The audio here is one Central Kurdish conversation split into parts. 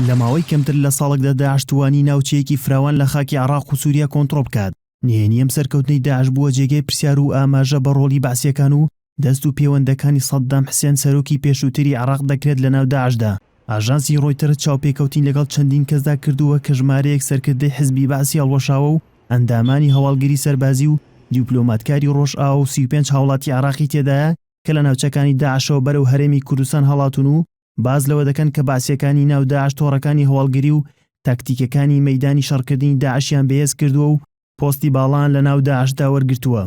لە ماوەی کەمتر لە ساڵێکدا داعش توانی ناوچەیەکی فراوان لە خاکی عێراق و سووریا کۆنتڕۆڵ بکات. نهێنی ئەم سەرکەوتنەی داعش بووە جێگەی پرسیار و ئاماژە بە ڕۆڵی بەعسییەکان و دەست و پێوەندەکانی سەددام حسێن سەرۆکی پێشووتری عێراق دەکرێت لەناو داعشدا. ئاژانسی ڕۆیتەرز چاوپێکەوتنی لەگەڵ چەندین کەسدا کردووە کە ژمارەیەک سەرکردەی حزبی بەعسی هەڵوەشاوە و ئەندامانی هەواڵگری سەربازی و دیوپلۆماتکاری ڕۆژئاوا و سی و پێنج هاوڵاتی عێراقی تێدایە کە لە ناوچەکانی داعشەوە بەرەو هەرێمی کوردستان هەڵاتوون و باس لەوە دەکەن کە بەعسییەکانی ناو داعش تۆڕەکانی هەواڵگری و تاکتیکەکانی مەیدانی شەڕکردنی داعشیان بەهێز کردووە و پۆستی باڵایان لە ناو داعشدا وەرگرتووە.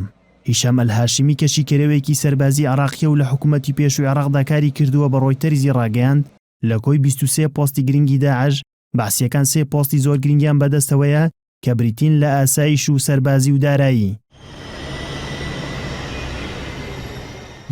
هیشام ئەلهاشمی کە شیکەرەوەیەکی سەربازیی عێراقییە و لە حکوومەتی پێشووی عێراقدا کاری کردووە بە ڕۆیتەرزی ڕاگەیاند، لە کۆی بیست و سێ پۆستی گرنگی داعش، بەعسییەکان سێ پۆستی زۆر گرنگیان بەدەستەوەیە کە بریتین لە ئاسایش و سەربازی و دارایی.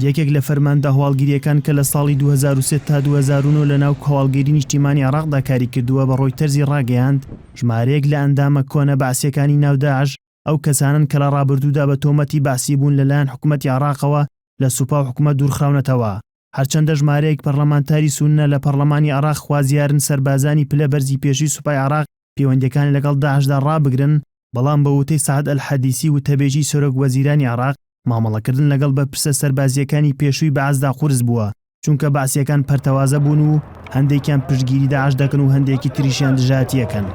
یەکێک لە فەرماندە هەواڵگرییەکان کە لە ساڵی دوو هەزار و سێ تا دوو هەزار و نۆ لە ناو هەواڵگری نیشتیمانی عێراقدا کاری کردووە بە ڕۆیتەرزی ڕاگەیاند، ژمارەیەک لە ئەندامە کۆنە بەعسییەکانی ناو داعش ئەو کەسانەن کە لە ڕابردوودا بە تۆمەتی بەعسیبوون لەلایەن حکومەتی عێراقەوە لە سوپا و حکومەت دوورخراونەتەوە. هەرچەندە ژمارەیەک پەرلەمانتاری سوننە لە پەرلەمانی عێراق خوازیارن سەربازانی پلە بەرزی پێشووی سوپای عێراق پێوەندیەکانی لەگەڵ داعشدا ڕابگرن، بەڵام بە وتەی سەعد ئەلحەدیسی وتەبێژی سەرۆک وەزیرانی عێراق، مامەڵەکردن لەگەڵ بەرپرسە سەربازییەکانی پێشووی بەعسدا قورس بووە، چونکە بەعسییەکان پەرتەوازە بوون و هەندێکیان پشتگیری داعش دەکەن و هەندێکی تریشیان دژایەتییەکەن.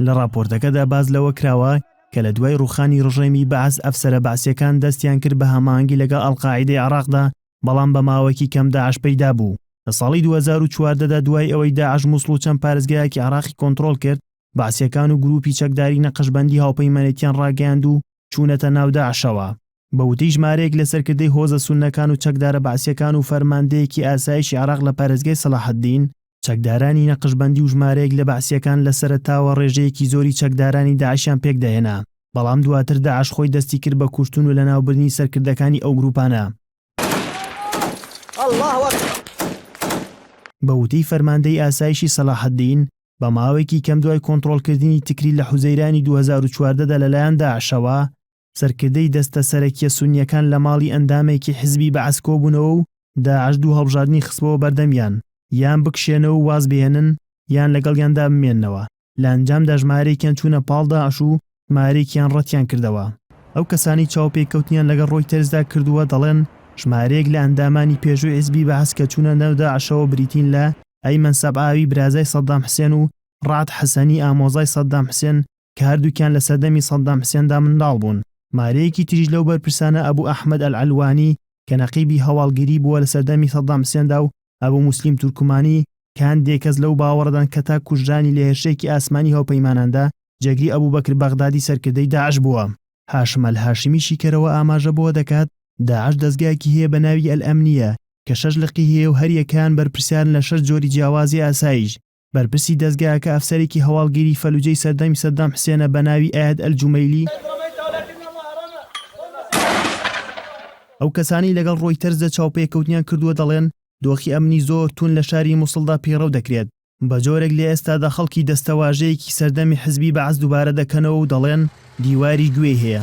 لە ڕاپۆرتەکەدا باس لەوە کراوە، کە لە دوای ڕووخانی ڕژێمی بەعس ئەفسەرە بەعسییەکان دەستیان کرد بە هەماهەنگی لەگەڵ ئەلقاعیدەی عێڕاقدا، بەڵام بە ماوەیەکی کەم داعش پەیدا بوو. لە ساڵی دوو هەزار و چواردە دا دوای ئەوەی داعش موسڵ و چەند پارێزگایەکی عێڕاقی کۆنتڕۆڵ کرد، بەعسییەکان و گرووپی چەکداری نەقشبەندی هاوپەیمانێتییان ڕاگەیاند و چوونەتە ناو داعشەوە. بە وتەی ژمارەیەک لە سەرکردەی هۆزە سوننەکان و چەکدارە بەعسییەکان و فەرماندەیەکی ئاسایشی عێراق لە پارێزگای سەڵاحەدین، چەکدارانی نەقشبەندی و ژمارەیەک لە بەعسییەکان لە سەرەتاوە ڕێژەیەکی زۆری چەکدارانی داعشیان پێکدەهێنا، بەڵام دواتر داعش خۆی دەستی کرد بە کوشتن و لەناوبردنی سەرکردەکانی ئەو گرووپانە. بە وتەی فەرماندەی ئاسایشی سەڵاحەدین، بە ماوەیەکی کەم دوای کۆنتڕۆڵکردنی تکریت لە حوزەیرانی دوو هەزار و چواردە دا لەلایەن داعشەوە، سەرکردەی دەستە سەرەکیە سونیەکان لە ماڵی ئەندامێکی حزبی بەعس کۆبونەوە و داعش دوو هەڵبژاردنی خستبەوە بەردەمیان یان بکشێنەوە و وازبهێنن یان لەگەڵیاندا بمێننەوە، لە ئەنجامدا ژمارەیەکیان چونە پاڵ داعش و ژمارەیەکیان ڕەتیان کردەوە. ئەو کەسانەی چاوپێکەوتنیان لەگەڵ ڕۆیتەرزدا کردووە دەڵێن ژمارەیەک لە ئەندامانی پێشووی حزبی بەعس کە چونە ناو داعشەوە بریتین لە ئەیمەن سەبعاوی برازای سەدام حسێن و ڕەعد حەسەنی ئامۆزای سەدام حسێن کە هەردووکیان لە سەردەمی سەددام حسێندا منداڵ بوون. مارەیەکی تریش لەو بەرپرسانە ئەبو ئەحمەد ئەلعەلوانی کە نەقیبی هەواڵگری بووە لە سەردەمی سەددام حسێندا و ئەبو موسلیم تورکمانی کە هەندێک کەس لەو باوەڕەدان کە تا کوژرانی لە هێرشێکی ئاسمانی هاوپەیماناندا جێگری ئەبو بەکر بەغدادی سەرکردەی داعش بووە. هاشم ئەلهاشمی شیکەرەوە ئاماژە بەوە دەکات، داعش دەزگایەکی هەیە بە ناوی ئەلئەمنیە کە شەش لقی هەیە و هەریەکەیان بەرپرسیارن لە شەش جۆری جیاوازی ئاسایش، بەرپرسی دەزگایەکە ئەفسەرێکی هەواڵگیری فەلوجەی سەردەمی سەددام حسێنە بە ناوی ئەیاد ئەلجومەیلی ئەو کەسانی لەگەڵ ڕۆیتەرز لە چاوپێکەوتنیان کردووە دەڵێن دۆخی ئەمنی زۆر تون لە شاری مووسڵدا پەیڕەو دەکرێت بە جۆرێک لە ئێستادا خەڵکی دەستەواژەیەکی سەردەمی حزبی بەعس دووبارە دەکەنەوە و دەڵێن دیواری گوێی هەیە.